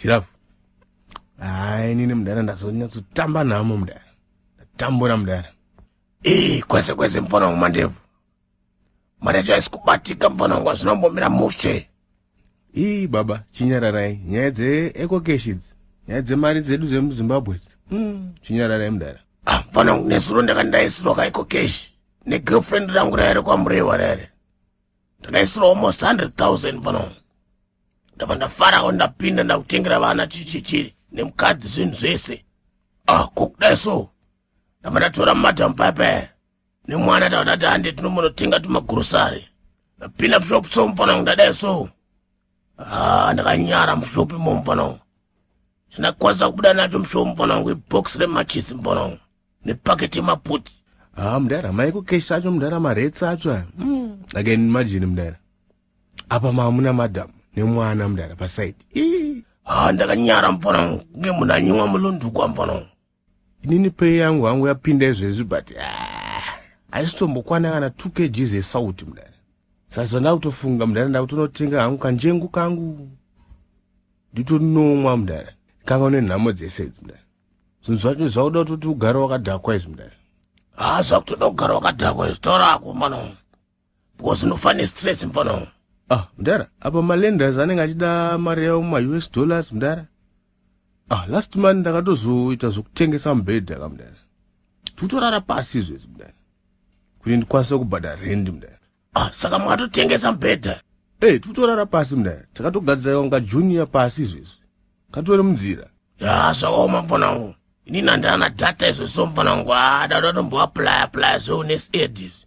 chirafu haa inini mudhara ndazonyatsotamba nhamo mudhara ndatambura mudhara ii kwese kwese mfana wangu mandevu marecho aisi kubatika mfana wangu azvinombomira mushe ii baba chinyararai nyaya dzeekokeshidzi nyaya dzemari dzedu dzemuzimbabwe mm. chinyararai mudhara ah, mfana wangu nezuro ndakandaisirwa kaikokeshi negirlfriend rangu raere kwamurewa raere ndakaisirwa almost 100 000 mfana wangu ndabva ndafarawo ndapinda ndakutengera vana chichichiri nemukadzi zvinhu zvese ah kokudai so ndabva ndatora madam pepe nemwana tava tati hande tinomonotenga tumagurosari ndapinda mushop so mufana wangu ndadai so ah ndakanyara mushopi mo mufana wangu chandakwanisa kubuda nacho mushowo mufana wangu ibox remachisi mufana wangu nepaketi yemaputi ha ah, mudara maiko kesh acho mudara maretsi acho aya hmm. again imagine mudara apa mamuna madam nemwana mudara pasaidi ha ndakanyara mfana wangu nge munhu anyimwa mulondukwa mfana wangu inini pei yangu hangu yapinda izvezvi but haisitombokwana kana two kgs esauti mudara sasa ndakutofunga mudara ndakutonotenga hangu kanjengu kangu nditonomwa mudara kanga une nhamo dzese idzi mudara zvinhu zvacho zvakuda kuti ugare wakadhakwa izvi mudara ha zvakutoda kugara wakadhakwa izvi taurako mwana wangu because unofane stress mfana ah mdara apa malenders anenge achida mari yavo maus dollars mdara ah last month ndakatozoita zvokutengesa mubhedha ka mdara tikutorara pasi izvezvi mdara kuti ndikwanise kubhadha rendi mdara ah saka mwatotengesa mubhedha ey eh, tikutorara pasi mdara takatogadzira kunga junior pasi izvezvi katore munzira ya zvakaoma mfanangu inini handana data izvezvo mfanangu adada ah, tomboaplya plya zveune sed izvi